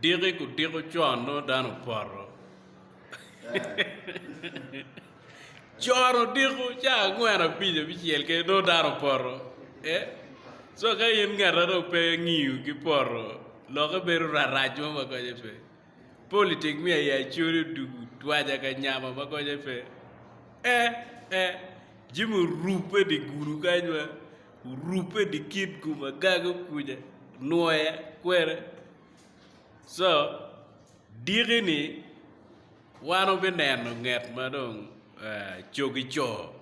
Diki ku diko con nongo dano opoto. con odiko ca angwen abic abicel ke nongo dano opoto. Eh? So ka in ngeta dong pe ngiyo ki poto lokke bedo rarac mo ma konye pe. Politik miyo aye acoli odugu twaja ka nyama ma konye pe. Eh eh Jimmy orubbe di gulu kany ma Orubbe di kit gum agaga okuja, nwoya, kwena. So, diki-ni wan wubineno nget ma dong cogi co.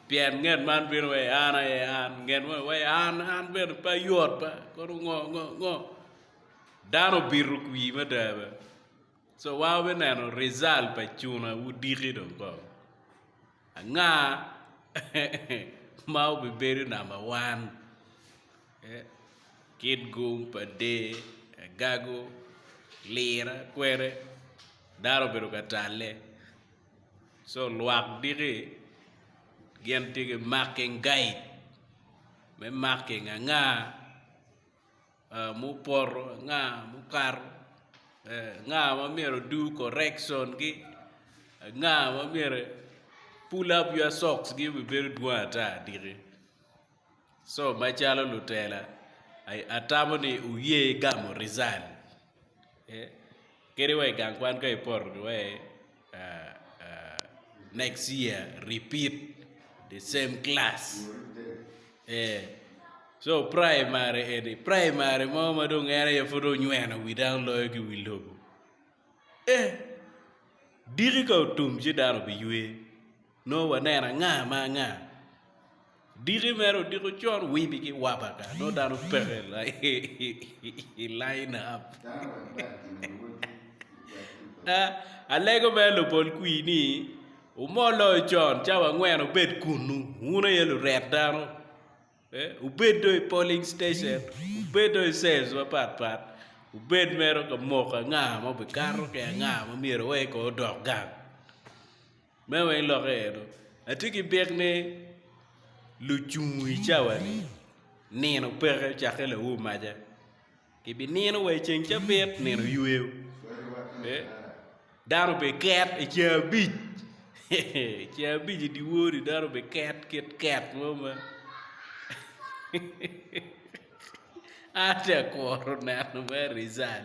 Pien nget man bino wa i an aye an, nget moni wa i an, an bene pe ayot ba, kono ngo, ngo, ngo. Dano obito kwir mada bene. So wa obe neno result pa cuna wudiki dong ko. Anga ma obe bedo number one? Eh, kit gum pa dee, agago, lira, kwere, dano obedo ka talle. So lwak diki gin tye ki marking guide me marking anga mupoto, anga mukato, anga ma myero odu correction gi, anga ma myero pull up your socks gi bene bedo dwong ata diki, so macalo lutela atamo ni wuye gamo rizal. Kadi wa i gang kwan ka ipoto giwai next year repeat the same class ee so primary eni primary mo ma dong en aye pud onyweno wi dano loyo ki wi lobo ee diki ka otum ci dano obiywer. Nongo waneno anga ma anga? Diki mere odiko con wibi ki wapa ka nongo dano peke i line up. Alego mere lubol kwir ni wumol loyo con cawa angwen wubed kunnu wun aye luret dano wubed dong i polling station wubed dong i cells mapat pat wubed mere ka moko anga ma obikato ki anga ma myero oye kong odok gang. Me weng lokke eno, atye ki byek ni lucung i cawani nino peke cakke laur maca gibinino wa i ceng cabit nino yweyo dano obiket i ceng abic i ceng abic i dye wor-ri dano obiket kit ket mo ma an tye ka kuro neno me Rizal.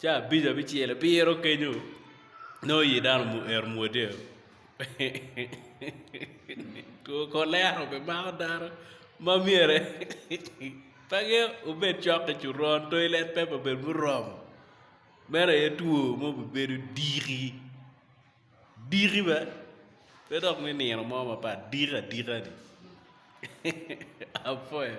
ca abic abicel abiro kenyo nongo i dano omyero omwodo two kolera be mako dano ma myere pe angeyo obed cok ki coron toilet paper bene bene oromo meno aye two ma obibedo diki, diki bene pe dok me nino mo mapat diki adika ni apoyo.